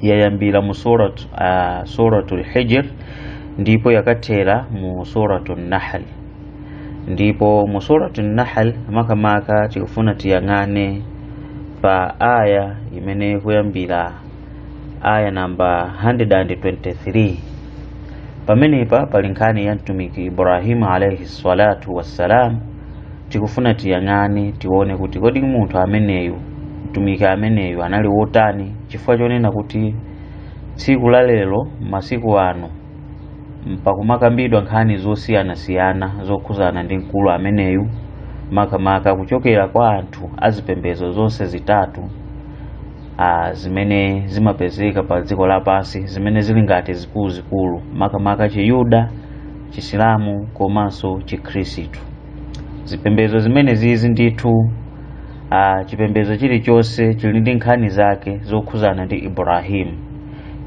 yayambira mu surat uh, suratul hijr ndipo yakathera mu suratul nahl ndipo mu suratul nahl makamaka tikufuna tiyang'ane pa aya imene ikuyambira aya namba 123 pamenepa pali nkhani ya mtumiki ibrahimu alaihi salatu wassalam tikufuna tiyang'ane tione kuti kodi munthu ameneyu mtumiki ameneyu anali wotani chifukwa chonena kuti tsiku la lero masiku ano pakumakambidwa nkhani zosiyanasiyana zokhuzana ndi mkulu ameneyu makamaka kuchokera kwa anthu azipembedzo zonse zitatu a, zimene zimapezeka pa dziko lapansi zimene zili ngati zikuluzikulu makamaka chiyuda chisilamu komanso chikhristu zipembedzo zimenezizi ndithu ah, chipembedzo chilichonse chili ndi nkhani zake zokhuzana ndi ibrahimu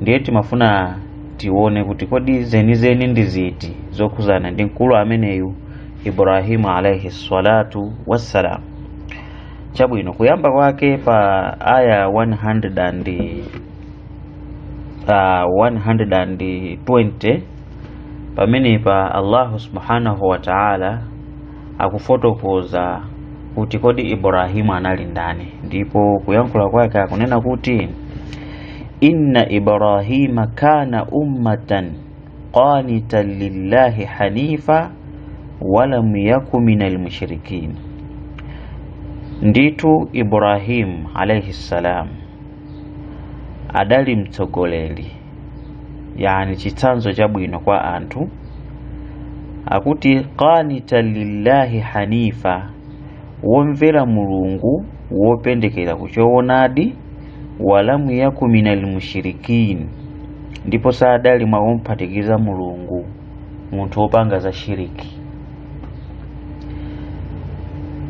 ndiye timafuna tione kuti kodi zenizeni ndi ziti zokhuzana ndi mkulu ameneyu ibrahimu alaihi salatu wassalam chabwino kuyamba kwake pa aya 100 and, ah, 120 pamenepa allahu subhanahu wa taala akufotokoza kuti kodi ibrahimu anali ndani ndipo kuyankhula kwake akunena kuti inna ibrahima kana ummatan qanitan lillahi hanifa walam yaku min almushrikin ndithu ibrahimu alaihi ssalam adali mtsogoleri yani chitsanzo chabwino kwa anthu akuti qanita lillahi hanifa womvera mulungu wopendekera kuchoonadi walamu yaku minal mushrikin ndipo sadali mwa omphatikiza mulungu munthu wopanga za shiriki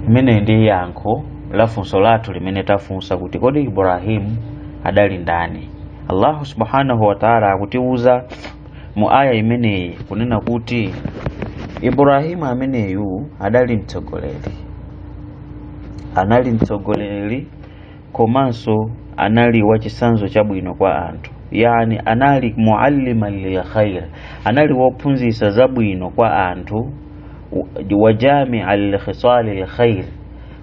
imeneyi ndi yankho la funso lathu limene tafunsa kuti kodi ibrahimu adali ndani allahu subhanahu wataala akutiwuza mu aya imeneyi kunena kuti ibrahimu ameneyu adali mtsogoleri anali mtsogoleri komanso anali wachisanzo chabwino kwa anthu yani anali mualliman lil khair anali wophunzitsa zabwino kwa anthu wajamia likhisali lkhair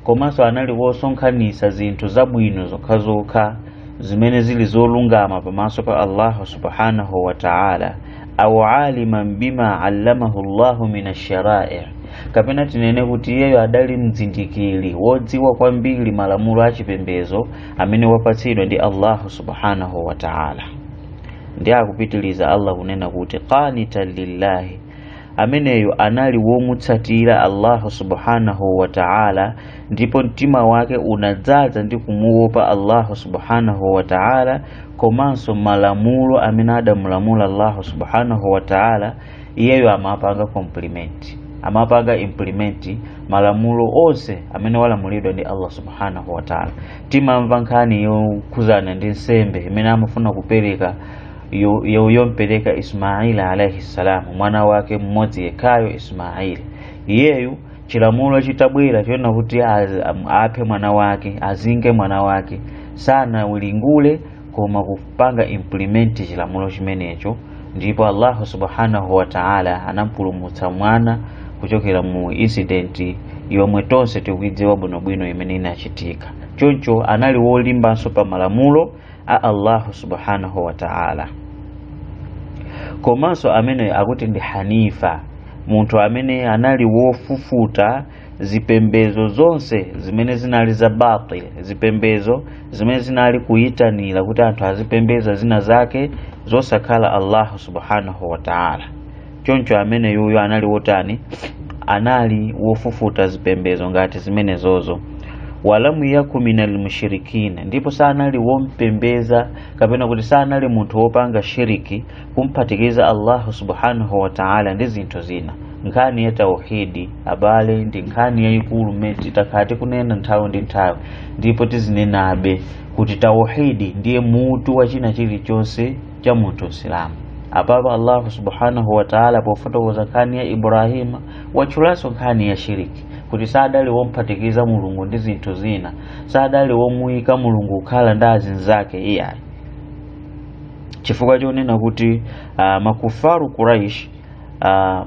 komanso anali wosonkhanitsa zinthu zabwino zokhazokha zimene zili zolungama pamaso pa allahu subhanahu wa taala au aliman bima allamahu llahu min asharai kapena tinene kuti iyeyo adali mzindikiri wodziwa kwambiri malamulo a chipembezo amene wapatsidwa ndi allahu subhanahu wa taala ndiye akupitiliza allah kunena kuti qanitan lillahi ameneyo anali womutsatira allahu subhanahu wa taala ndipo mtima wake unadzaza ndi kumuopa Allahu subhanahu wa ta'ala komanso malamulo amene adamulamula Allahu subhanahu wa ta'ala iyeyo amapanga compliment amapanga implement malamulo onse amene walamulidwa ndi Allah subhanahu wa ta'ala timamva nkhani yokhuzana ndi nsembe imene amafuna kupereka yo- yo- yompereka Ismaili alaihi salam mwana wake mmodzi yekhayo Ismaili iyeyu chilamulo chitabwera chonena kuti a- am- aphe mwana wake azinge mwana wake sanawiringule koma kupanga implement chilamulo chimenecho ndipo allahu subhanahu wa taala anampulumutsa mwana kuchokera mu incident yomwe tonse tikuidziwa bwinobwino imene inachitika choncho anali wolimbanso pa malamulo a allahu subhanahu wa ta'ala komanso amene akuti ndi hanifa munthu amene anali wofufuta zipembezo zonse zimene zinali za batil zipembezo zimene zinali kuyitanira kuti anthu azipembeza zina zake zosakhala allahu subhanahu wa ta'ala choncho ameneyuyo anali wotani anali wofufuta zipembezo ngati zimenezozo walamu yaku minal mushrikin ndipo sanali wompembeza kapena kuti sanali munthu wopanga shiriki kumphatikiza allahu subhanahu wa taala ndi zinthu zina nkhani ya tauhidi abale ndi nkhani yayikulu mmene takhala tikunena nthawi ndi nthawi ndipo tizinenabe kuti tauhidi ndiye mutu wa china chilichonse cha munthu msilamu apapa allahu subhanahu wataala pofotokoza nkhani ya ibrahima watchulanso nkhani ya shiriki kuti sadali womphatikiza mulungu ndi zinthu zina sadali womuyika mulungu kukhala ndi azinzake iyayi chifukwa chonena kuti uh, makufaru quraish uh,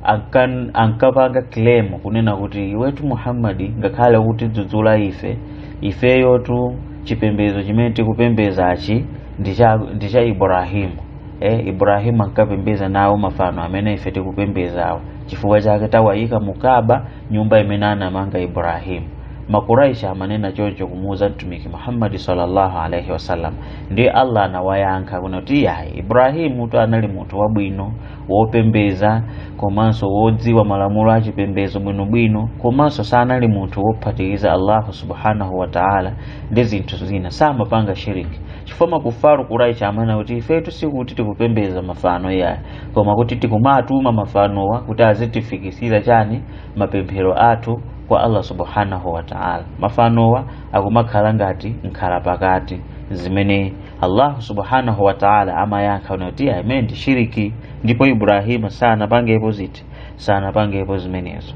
ankan- ankapanga claim kunena kuti iwetu muhammadi ngakhale ukutidzudzula ife ifeyotu chipembezo chimene tikupembezachi ndi cha- ndi cha ibrahimu eh, ibrahimu ankapembeza nawo mafano amene ife tikupembezawo chifukwa chake tawayika mu kaba nyumba imene anamanga ibrahimu makuraishi amanena choncho kumuuza mtumiki muhammadi sallallahu alaihi wasallam ndiye allah anawayankha kunena kuti iyayi ibrahimutu anali munthu wabwino wopembeza komanso wodziwa malamulo a chipembezo bwinobwino komanso sanali munthu wophatikiza allahu subhanahu wataala ndi zinthu zina samapanga shiriki chifukwa makufaru kuraishi amanena kuti ifetu sikuti tikupembeza mafano yayi koma kuti tikumatuma mafanowa kuti azitifikisira chani mapemphero athu kwa allah subhanahu wataala mafanowa akumakhala ngati nkhala pakati zimene allahu subhanahu wataala amayankha kunena kuti imene ndi shiriki ndipo ibrahima sanapangepo ziti sanapangepo zimenezo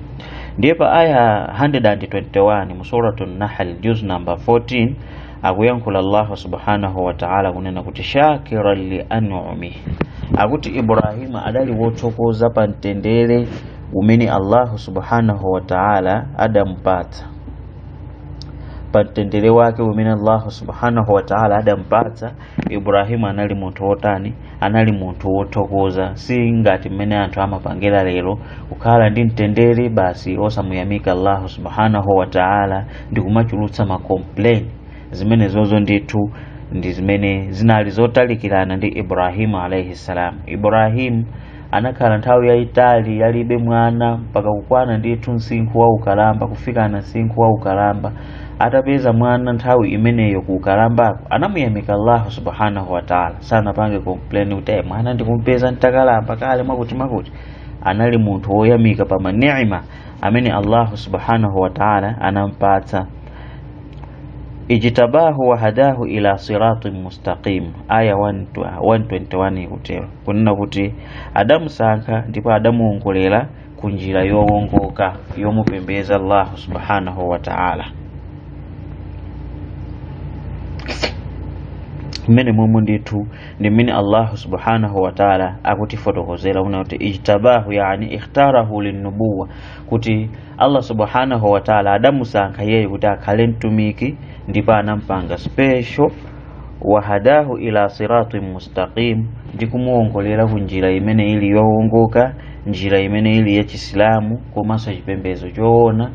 ndiye pa aya 121 mu suratu nahl juz number 14 akuyankhula allahu subhanahu wataala kunena kuti shakiran li anumihi akuti ibrahima adali wothokoza pa mtendere umene allahu subhanahu wataala adamupatsa pa mtendere wake umene allahu subhanahu wataala adampatsa ibrahimu anali munthu wotani anali munthu wothokoza si ngati mmene anthu amapangira lero kukhala ndi mtendere basi osamuyamika allahu subhanahu wataala ndi kumachulutsa ma complain zimenezozo ndithu ndi zimene zinali zotalikirana ndi ibrahimu alaihi salam ibrahimu anakhala nthawi yayitali alibe mwana mpaka kukwana ndithu msinkhu wa ukalamba kufikana msinkhu wa ukalamba atapeza mwana nthawi imeneyo ku ukalambako anamuyamika allahu subhanahu wataala sanapange complain kuti eh mwana ndikumpeza ntakalamba kale mwakuti anali munthu woyamika pa manima amene allahu subhanahu wataala anampatsa ijtabahu wa hadahu ila siratin mustaqim aya 121 ikutero kunena kuti adamusankha ndipo adamuongolera ku njira yowongoka yomupembeza allahu subhanahu wa ta'ala mmene momwe ndithu ndi mmene allahu subhanahu wa ta'ala akutifotokozera kunena kuti ijtabahu yani ikhtarahu linnubuwa kuti allah subhanahu wa ta'ala adamusankha iyeyo kuti akhale mtumiki ndipo anampanga special wahadahu ila siratin mustaqim ndi kumuwongolera ku njira imene ili yowongoka njira imene ili ya chisilamu komanso chipembedzo choona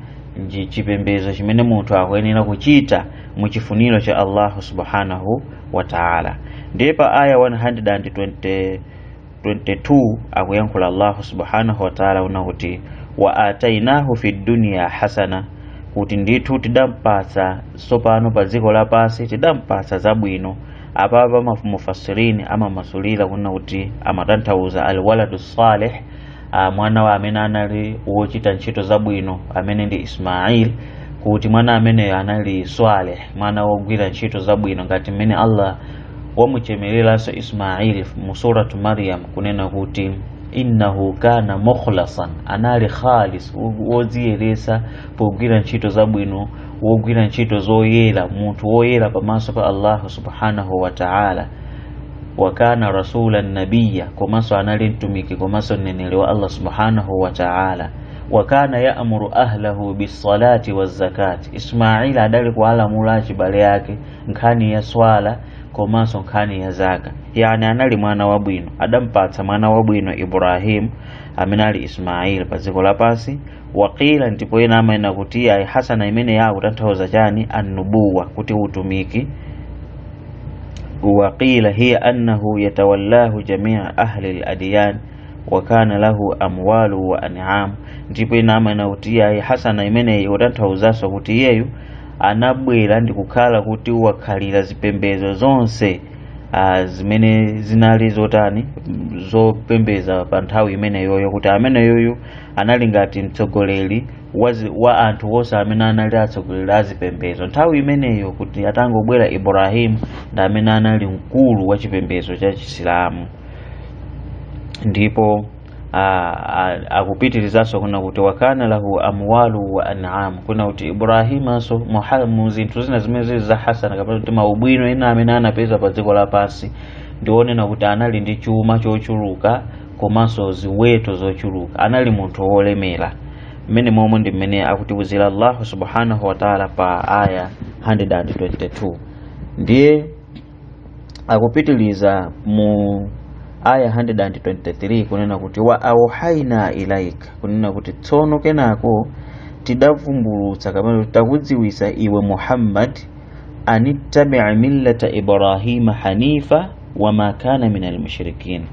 chipembedzo chimene munthu akuyenera kuchita mu chifuniro cha allahu subhanahu wa taala ndiye pa aya 120 22 akuyankhula allahu subhanahu wataala kunena kuti wa atainahu fi dunya hasana kuti ndithu tidampatsa tsopano pa dziko lapansi tidampatsa zabwino apapa mufasirini amamasulira kunena kuti amatanthauza alwaladu salih mwana amene anali wochita ntchito zabwino amene ndi ismail kuti mwana ameneyo anali swaleh mwana wogwira ntchito zabwino ngati mmene allah wamuchemereranso ismaili mu suratu maryam kunena kuti innahu kana mukhlasan anali khalis wodziyeretsa pogwira ntchito zabwino wogwira ntchito zoyera munthu woyera pamaso pa allahu subhanahu wa taala wakana rasulan nabiya komanso anali mtumiki komanso mneneri wa allah subhanahu wa taala wakana yaamuru ahlahu bisalati wazakati ismaila adali kuwalamula achibale ake nkhani ya swala komanso nkhani ya zaka yani anali mwana wabwino adampatsa mwana wabwino ibrahim amene ali ismail pa dziko lapansi waqila ndipo ena amanena kuti ayi hasana imeneyi ikutanthauza chani annubuwa kuti utumiki waqila hiya annahu yatawallahu jamia ahli ladiyan wa kana lahu amwalu wa an'am ndipo ena amanena kuti ayi hasana imeneyi ikutanthauzanso kuti iyeyu anabwera ndikukhala kuti wakhalira zipembedzo zonse zimene zinali zotani zopembedza pa nthawi imeneyoyo kuti ameneyoyu anali ngati mtsogoleri wa anthu onse amene anali atsogoleri a zipembedzo nthawi imeneyo kuti atangobwera ibrahimu ndi amene anali mkulu wa chipembedzo cha chisilamu ndipo akupitirizanso kunena kuti wakana lahu amwalu wa an'am kunena kuti ibrahimanso mu zinthu zina zimene zili za hasana kapena kuti maubwino ena amene anapeza pa dziko lapansi ndi onena kuti anali ndi chuma chochuluka komanso ziweto zochuluka anali munthu wolemera mmenemomu ndi mmene akutiwuzira allahu subhanahu wataala pa aya 122 ndiye akupitiliza mu aya 123 kunena kuti wa auhaina ilaika kunena kuti tsono kenako tidavumbulutsa kapena takudziwitsa iwe muhammad anittabi'a millata ibrahima hanifa wama kana min almushrikin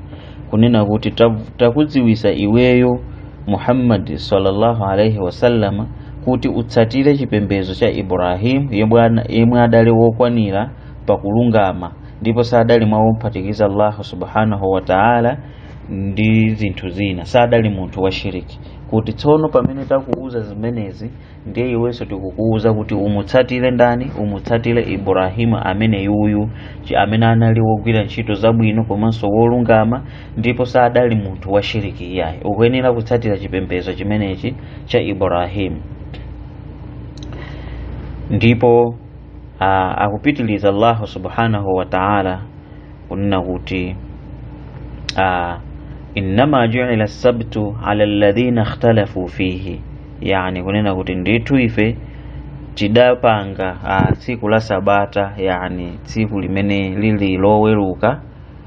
kunena kuti takudziwitsa iweyo muhammadi sallallahu alaihi wasallama kuti utsatire chipembedzo cha ibrahimu yemwe adali wokwanira pa kulungama ndipo sadali mwa omphatikiza Allah subhanahu wa ta'ala ndi zinthu zina sadali munthu wa shiriki kuti tsono pamene takuuza zimenezi ndiye iwenso tikukuuza kuti umutsatire ndani umutsatire ibrahimu ameneyuyu amene anali wogwira ntchito zabwino komanso wolungama ndipo sadali munthu wa shiriki iyayi ukuyenera kutsatira chipembedzo chimenechi cha ibrahimu ndipo Ah, akupitiliza allahu subhanahu wa taala kunena kuti ah, innama juila sabtu ala alladhina ikhtalafu fihi yani kunena kuti ndithu ife tidapanga ah, tsiku la sabata yani tsiku limene lili loweruka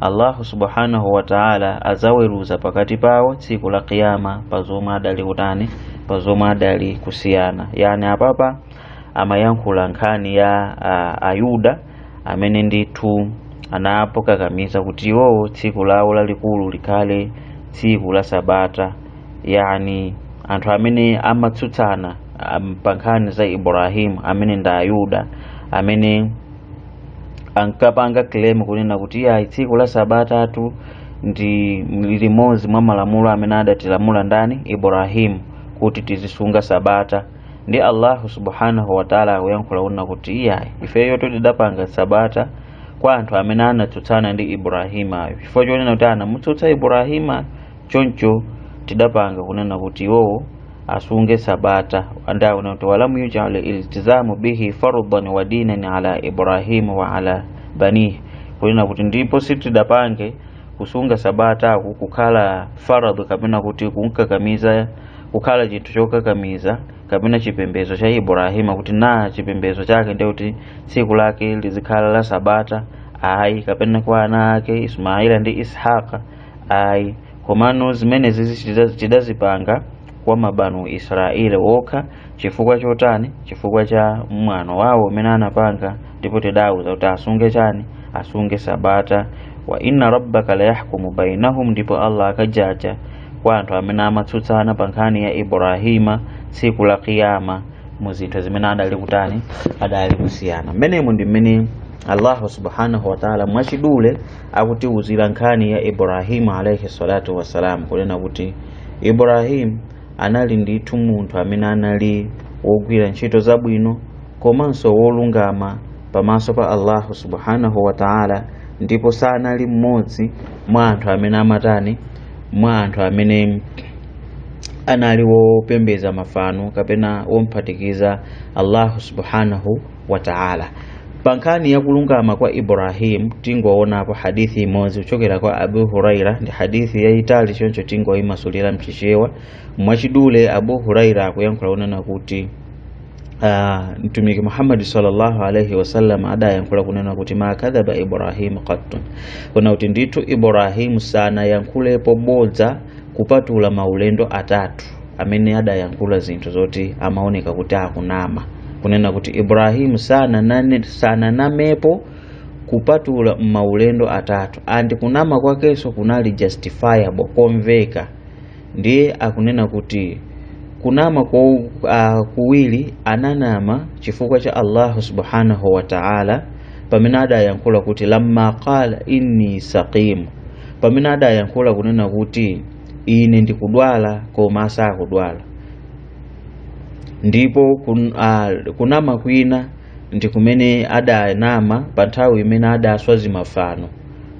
allahu subhanahu wa ta'ala adzaweruza pakati pawo tsiku la kiyama pa zomwe adali kutani pa zomwe adali kusiyana yani apapa amayankhula nkhani ya a, ayuda amene ndithu anapokakamiza kuti iwowo tsiku lawo lalikulu likhale tsiku la sabata yani anthu amene amatsutsana um, pa nkhani za ibrahimu amene ndi ayuda amene ankapanga claim kunena kuti iyayi tsiku la sabatatu ndi limodzi mwa malamulo amene adatilamula ndani ibrahimu kuti tizisunga sabata ndi allahu subhanahu wataala akuyankhula kunena kuti iyayi ifeyo tidapanga sabata kwa anthu amene anatsutsana ndi ibrahimayo chifukwa chonena kuti anamutsutsa ibrahimayo choncho tidapanga kunena kuti iwowo asunge sabata ndiye akuti walam yujal iltizamu bihi fardan wa dinan ala ibrahim wa la banihi kunena kuti ndipo sitidapange kusunga sabata aku kukhala faradhi kapena kuti kumkakamiza kukhala chinthu chokakamiza kapena chipembedzo cha ibrahima kuti ndi chipembedzo chake ndiye kuti tsiku lake lizikhala la sabata ayi kapena kwa ana ake ismaila ndi ishaqa ayi komano zimenezi zidaz- tidazipanga kwa mabanu israeli okha chifukwa chotani chifukwa cha mwano wawo umene anapanga ndipo tidawauza kuti asunge chani asunge sabata wa inna rabbaka layahkumu bainahum ndipo allah akajaja kwa anthu amene amatsutsana pa nkhani ya ibrahima tsiku la kiyama mu zinthu zimene adali kutani adali kusiyana mmenemu ndi mmene allahu subhanahu wataala mwachidule akutiuzira nkhani ya ibrahimu alaihi salatu wassalam kunena kuti ibrahimu anali ndithu munthu amene anali wogwira ntchito zabwino komanso wolungama pamaso pa allahu subhanahu wa taala ndipo sanali mmodzi mwa anthu amene amatani mwa anthu amene anali wopembeza mafano kapena womphatikiza allahu subhanahu wa taala pa nkhani ya kulungama kwa ibrahim tingowonapo hadithi imodzi kuchokera kwa abu huraira ndi hadithi yayitali choncho tingoyimasulira mchichewa mwachidule abu huraira akuyankhula kunena kuti ah, mtumiki muhammadi sallallahu alaihi wasallam adayankhula kunena kuti ma kadhaba ibrahimu qattun kunena kuti ndithu ibrahimu sanayankhulepo bodza kupatula maulendo atatu amene adayankhula zinthu zoti amaoneka kuti akunama kunena kuti ibrahimu sananane- sananamepo kupatula m'maulendo atatu and kunama kwakenso kunali justifiable komveka ndiye akunena kuti kunama kwa uh, kuwiri ananama chifukwa cha allahu subhanahu wa taala pamene adayankhula kuti lamma qala inni saqimu pamene adayankhula kunena kuti ine ndikudwala koma asakudwala ndipo kun, a, kunama kwina ndi kumene adanama pa nthawi imene adaswa zimafano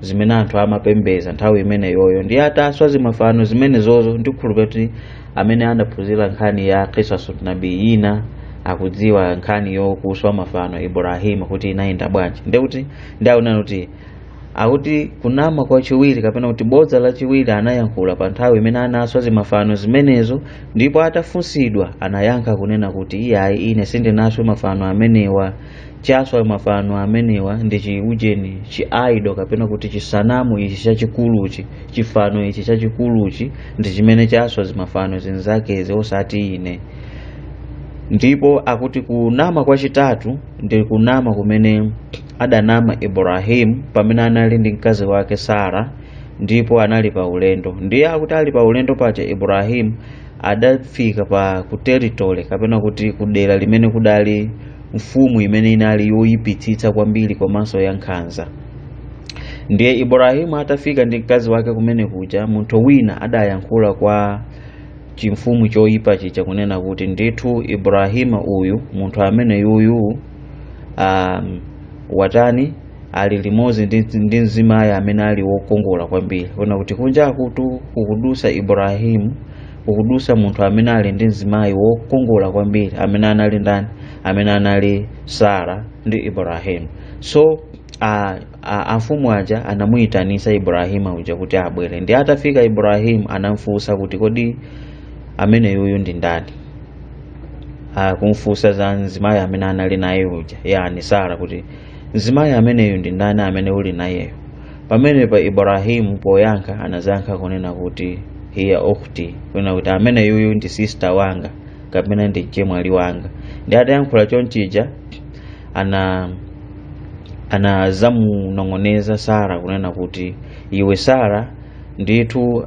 zimene anthu amapembeza nthawi imeneyoyo ndiye ataswa zimafano zimenezozo ndikukhulupirira kuti amene anaphunzira nkhani ya qisasu nabiyina akudziwa nkhani yokuswa mafano ibrahimu kuti inayenda bwanji ndekuti ndiye onani kuti akuti kunama kwachiwiri kapena kuti bodza lachiwiri anayankhula pa nthawi imene anaswa zimafano zimenezo ndipo atafunsidwa anayankha kunena kuti iyayi ine sindinaswe mafano amenewa chaswa mafano amenewa ndi chiujeni chi idol kapena kuti chisanamu ichi chachikuluchi chifano ichi chachikuluchi ndi chimene chaswa zimafano zinzakezi osati ine ndipo akuti kunama kwachitatu ndi kunama kumene adanama ibrahimu pamene anali ndi mkazi wake sara ndipo anali pa ulendo ndiye akuti ali pa ulendo paja ibrahimu adafika pa ku territory kapena kuti ku dera limene kudali mfumu imene inali yoyipitsitsa kwambiri komanso yankhanza ndiye ibrahimu atafika ndi mkazi wake kumene kuja munthu wina adayankhula kwa chimfumu choyipa chija kunena kuti ndithu ibrahimu uyu munthu amene yuyu um, watani ali limodzi ndi, ndi mzimayi amene ali wokongola kwambiri kunena kuti kunja kuno kukudusa ibrahimu kukudusa munthu amene ali ndi mzimayi wokongola kwambiri amene anali ndani amene anali sara ndi ibrahimu so uh, amfumu aja anamuyitanisa ibrahimu uja kuti abwere ndiye atafika ibrahimu anamfunsa kuti kodi ameneyuyu ndi ndani akumfunsa za mzimayi amene anali naye uja yani sara kuti mzimayi ameneyu ndi ndani amene uli nayeyo pamenepa ibrahimu poyankha anazankha kunena kuti hiya ukhti kunena kuti ameneyuyu ndi sista wanga kapena ndi mchemwali wanga ndiye atayankhula chonchija ana anazamunong'oneza sara kunena kuti iwe sara ndithu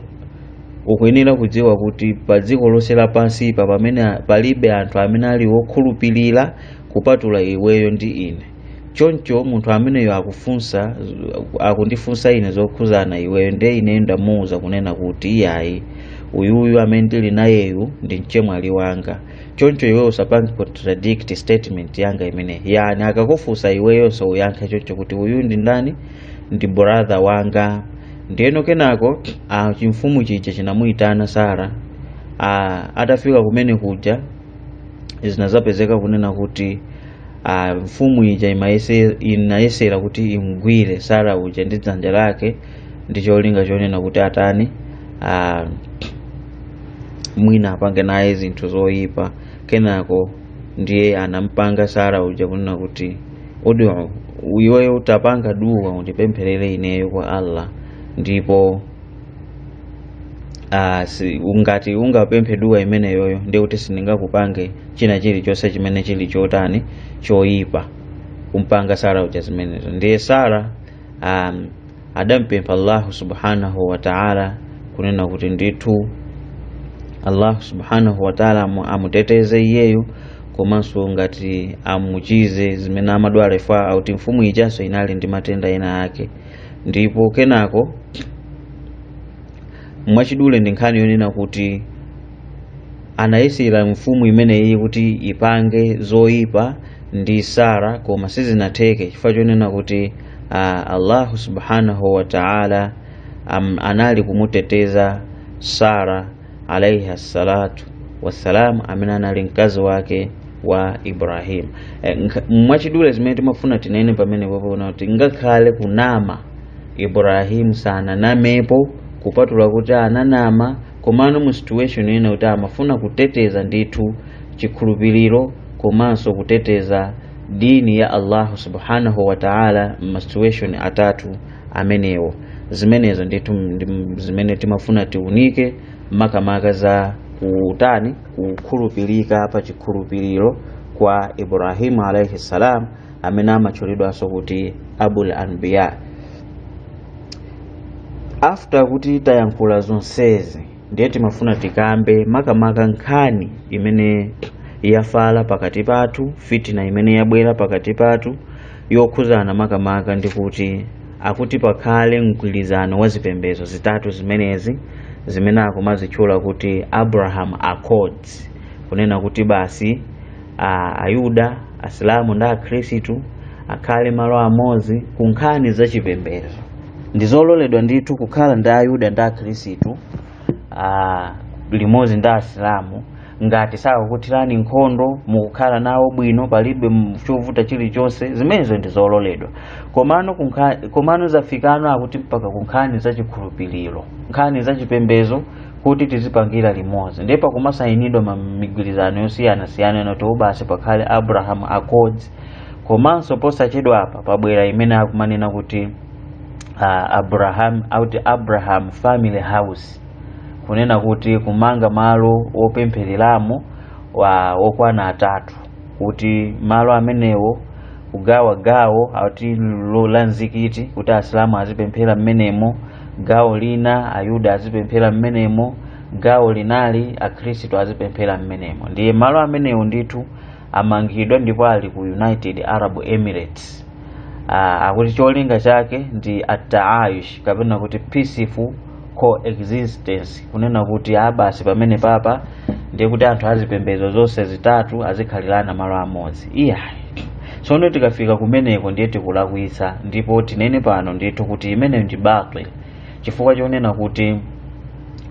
ukuyenera kudziwa kuti pa dziko lonse lapansi pa pamene a- palibe anthu amene ali wokhulupirira kupatula iweyo ndi ine choncho munthu ameneyo akufunsa akundifunsa ine zokhuzana iweyo ndiye ineyo ndamuwuza kunena kuti iyayi uyuyu amene ndili nayeyu ndi mchemwali wanga choncho iwe usapange contradict statement yanga imeneyi yani akakufunsa iweyonso uyankhe choncho kuti uyu ndi ndani ndi brother wanga ndiyeno kenako ah, chimfumu chija chinamuyitana sara ah, atafika kumene kuja zinazapezeka kunena kuti ah, mfumu ija imayese- inayesera kuti imgwire sara uja ndi dzanja lake ndi cholinga chonena kuti atani ah, mwina apange naye zinthu zoyipa kenako ndiye anampanga sara uja kunena kuti odi iweyo utapanga duwa undipempherere ineyo kwa allah ndipo ah, ungati ungapemphe duwa imeneyoyo ndiye kuti sindingakupange china chilichonse chimene chili chotani choyipa kumpanga sara uja zimenezo ndiye sara um, adampempha allahu subhanahu wataala kunena kuti ndithu allahu subhanahu wataala amu- amuteteze iyeyo komanso ngati amuchize zimene amadwala chifukwa akuti mfumu ijanso inali ndi matenda ena ake ndipo kenako mwachidule ndi nkhani yonena kuti anayesera mfumu imeneyi kuti ipange zoyipa ndi sara koma sizinatheke chifukwa chonena kuti uh, allahu subhanahu wa taala um, anali kumuteteza sara alaihi assalatu wassalam amene anali mkazi wake wa ibrahim e, mwachidule zimene timafuna tinene pamene pano kuti ngakhale kunama ibrahim sananamepo kupatula kuti ananama komano mu situation yonena kuti amafuna kuteteza ndithu chikhulupiriro komanso kuteteza dini ya allahu subhanahu wa taala mma situation atatu amenewo zimenezo ndithu ndi zimene timafuna tiunike makamaka za kutani kukhulupirika pa chikhulupiriro kwa ibrahimu alaihi salam amene amatchulidwanso kuti abul anbiya after kuti tayankhula zonsezi ndiye timafuna tikambe makamaka nkhani imene yafala pakati pathu fitina imene yabwera pakati pathu yokhuzana makamaka ndi kuti akuti pakhale mgwirizano wa zipembedzo zitatu zimenezi zimene akumazitchula kuti abraham accords kunena kuti basi a ayuda asilamu ndi akhristu akhale malo amodzi ku nkhani za chipembedzo ndi zololedwa ndithu kukhala ndi ayuda ndi akhristu ah, limodzi ndi asilamu ngati sakakuthirani nkhondo mukukhala nawo bwino palibe m- chovuta chilichonse zimenezo ndi zololedwa komano zafikano akuti mpaka ku nkhani za chikhulupiriro nkhani za chipembedzo kuti tizipangira limodzi ndipo kumasayinidwa ma- migwirizano yosiyanasiyana nati basi pakhale abraham accords komanso posachedwa apa pabwera imene akumanena kuti uh, abraham family house kunena kuti kumanga malo opemphereramo okwana atatu kuti malo amenewo kugawa gawo ati lo- la mzikiti kuti asilamu azipemphera mmenemo gawo lina ayuda azipemphera mmenemo gawo linali akhristu azipemphera mmenemo ndiye malo amenewo ndithu amangidwa ndipo ali ku united arab emirates Ah, akuti cholinga chake ndi ataayush kapena kuti peaceful coexistence kunena kuti abasi pamene papa ndiye kuti anthu azipembedzo zonse zitatu azikhalirana malo amodzi iyayi tsono tikafika kumeneko ndiye tikulakwitsa ndipo tinene pano ndithu kuti imene ndi batil chifukwa chonena kuti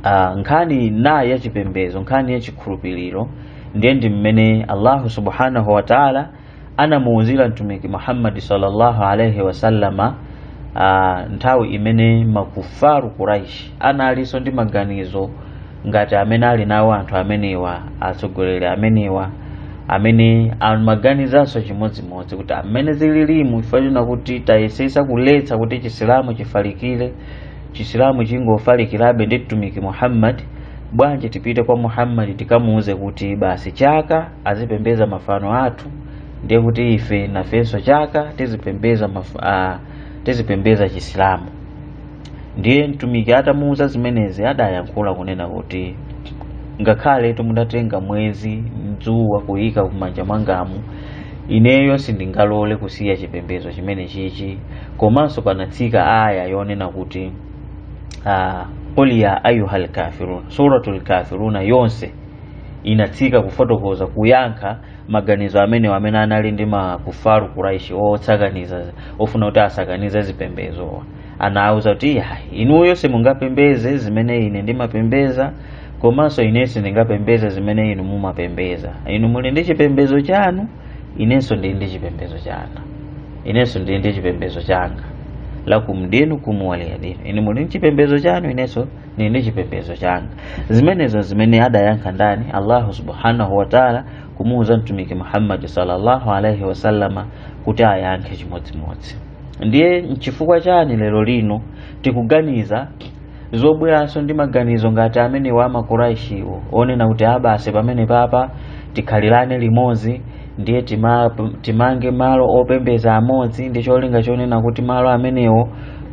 uh, nkhani nayi ya chipembedzo nkhani ya chikhulupiriro ndiye ndi mmene allahu subhanahu wataala anamuuzira mtumiki muhammadi sallallahu alaihi wasallama ah, nthawi imene makufaru kuraishi analinso ndi maganizo ngati amene ali nawo anthu amenewa atsogoleri amenewa amene amaganizanso chimodzimodzi kuti amene zililimu ndi kuti tayesesa kuletsa kuti chisilamu chifalikire chisilamu chingofalikirabe ndi mtumiki muhammad bwanji tipite kwa muhammad tikamuuze kuti basi chaka azipembeza mafano athu ndiye kuti ife nafenso chaka tizipembeza maf- ah, tizipembeza chisilamu ndiye mtumiki atamuuza zimenezi adayankhula kunena kuti ngakhaletu mudatenga mwezi ndi dzuwa kuyika kumanja mwangamu ineyo sindingalole kusiya chipembedzo chimene chichi komanso panatsika aya yonena kuti ah, qul ya ayuha lkafirun suratul kafiruna yonse inatsika kufotokoza kuyankha maganizo amenewo amene anali ndi makufaru kuraishi otsakaniza ofuna kuti asakanize zipembezowa anawuza kuti inuyo simungapembeze zimene ine ndimapembeza komanso ine sindingapembeze zimene inu mumapembeza inu muli ndi chipembezo chanu inenso ndili ndi chipembezo changa inenso ndili ndi chipembezo changa lakum dinukum waliya dini inu muli ndi chipembezo chanu inenso li ndi chipembezo changa zimenezo zimene adayankha ndani allahu subhanahu wataala kumuuza mtumiki muhammadi sallallahu alaihi wasallama kuti ayankhe chimodzimodzi ndiye nchifukwa chani lero lino tikuganiza zobweranso ndi maganizo ngati amenewa a makuraishiwo onena kuti a basi pamene papa tikhalirane limodzi ndiye tima, timange malo opembeza amodzi ndi cholinga chonena kuti malo amenewo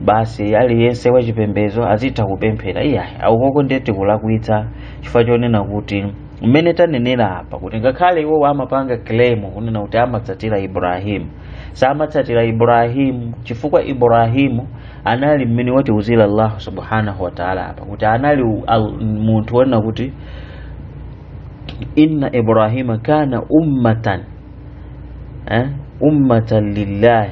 basi aliyense wachipembedzo azitha kupemphera iyayi aukoko ndiye tikulakwitsa chifukwa chonena kuti mmene tanenera apa kuti ngakhale iwowo amapanga claim kunena kuti amatsatira ibrahimu samatsatira ibrahimu chifukwa ibrahimu anali mmene watiuzira allahu subhanahu wataala apa kuti anali u- al- munthu wonena kuti inna ibrahima kana ummatan eh? ummatan lillahi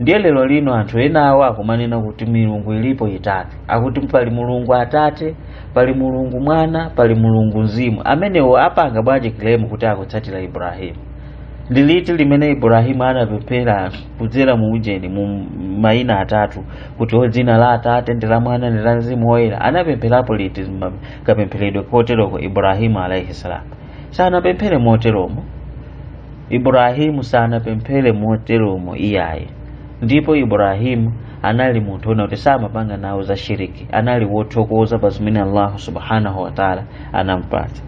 ndiye lero lino anthu ena awo akumanena kuti milungu ilipo itatu akuti pali mulungu atate pali mulungu mwana pali mulungu mzimu amenewo apanga bwanji claim kuti akutsatira ibrahimu ndi liti limene ibrahimu anapemphera kudzera mu ujeni mu mayina atatu kuti o dzina la atate ndi la mwana ndi la mzimu woyera anapempherapo liti kapempheredwe koteroko ibrahimu alaihi salamu sanapemphere moteromo iburahimu sanapemphere moteromo iyayi ndipo iburahimu anali munthu ona kuti samapanga nawo za shiriki anali wothokoza pa zimene allahu subhanahu wataala anampatsa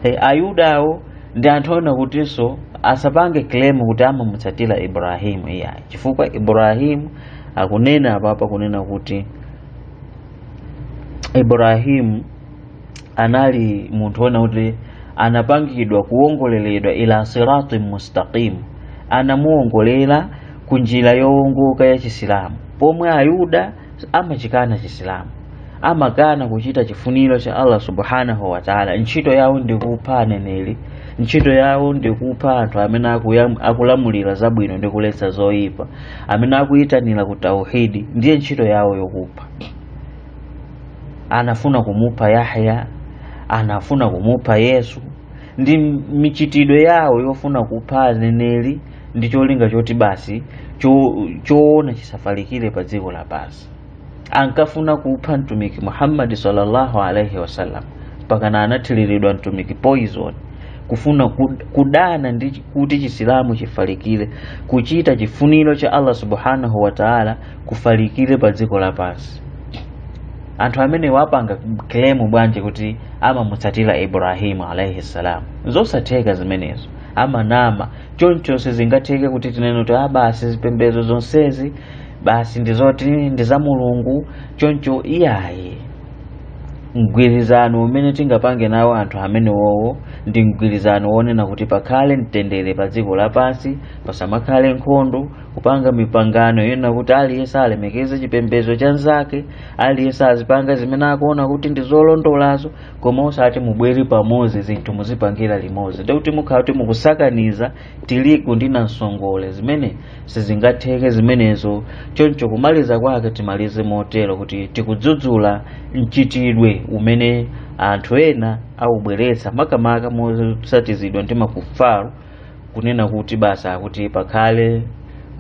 e, ayudawo ndi anthu ona kutinso asapange claim kuti amamutsatira iburahimu iyayi chifukwa iburahimu akunena apapa kunena kuti iburahimu anali munthu wona kuti anapangidwa kuwongoleredwa ila sirati mustaqim anamuwongolera ku njira yowongoka ya chisilamu pomwe ayuda amachikana chisilamu amakana kuchita chifuniro cha allah subhanahu wataala ntchito yawo ndi kupha aneneri ntchito yawo ndi kupha anthu amene akuyam- akulamulira zabwino ndi kuletsa zoyipa amene akuyitanira ku tauhidi ndiye ntchito yawo yokupha anafuna kumupha yahya anafuna kumupha yesu ndi michitidwe yawo yofuna kupha aneneri ndi cholinga choti basi cho- choona chisafalikire pa dziko lapansi ankafuna kupha mtumiki muhammadi sallallahu alaihi wasallam mpakana anathiriridwa mtumiki poison kufuna kud- kudana ndi kuti chisilamu chifalikire kuchita chifuniro cha allah subhanahu wa taala kufalikire pa dziko lapansi anthu amene angapange claim bwanji kuti amamutsatira ibrahimu alaihi salam zosatheka zimenezo amanama choncho sizingatheke kuti tinene kuti ah basi zipembedzo zonsezi basi ndizoti ndi za mulungu choncho iyayi mgwirizano umene tingapange nawo anthu amenewowo ndi mgwirizano wonena kuti pakhale mtendere pa dziko lapansi pasamakhale nkhondo kupanga mipangano yonena kuti aliyense alemekeze chipembedzo cha nzake aliyense azipanga zimene akuona kuti ndi zolondolazo koma osati mubwere pamodzi zinthu muzipangira limodzi ndikuti mukhala kuti mukusakaniza tirigu ndi namsongole zimene sizingatheke zimenezo choncho kumaliza kwake timalize motero kuti tikudzudzula mchitidwe umene anthu ena akubweretsa makamaka motsatizidwa ndi makufaru kunena kuti basi akuti pakhale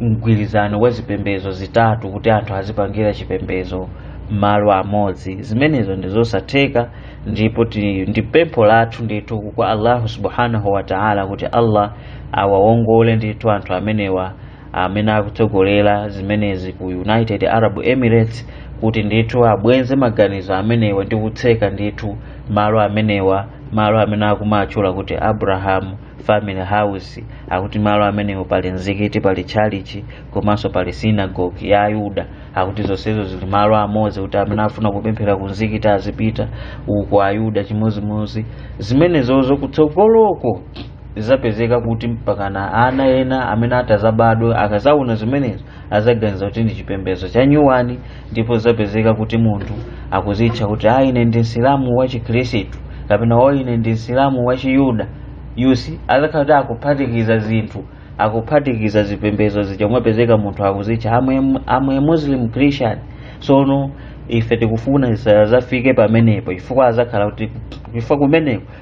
mgwirizano wa zipembedzo zitatu kuti anthu azipangira chipembedzo mmalo amodzi zimenezo ndi zosatheka ndipo ti- ndi pempho lathu ndithu kwa allahu subhanahu wa taala kuti allah awawongole ndithu anthu amenewa amene akutsogolera zimenezi ku united arab emirates kuti ndithu abwenze maganizo amenewa ndi kutseka ndithu malo amenewa malo amene akumatchula kuti abraham family house akuti malo amenewo pali mzikiti pali tchalichi komanso pali sinagogi ya ayuda akuti zonsezo zili malo amodzi kuti amene afuna kupemphera ku mzikiti azipita uko ayuda chimodzimodzi zimenezozo kutsogoloko zizapezeka kuti mpakana ana ena amene atazabadwe akazaona zimenezo azaganiza kuti ndi chipembedzo cha nyuwani ndipo zizapezeka kuti munthu akuzitcha kuti a ine ndi msilamu wa chikhristu kapena o ine ndi msilamu wa chiyuda you see azakhala kuti akuphatikiza zinthu akuphatikiza zipembedzo zija umapezeka munthu akuzitcha I am a muslim christian sono ife tikufuna zisazafike pamenepo chifukwa azakhala kuti chifukwa kumeneko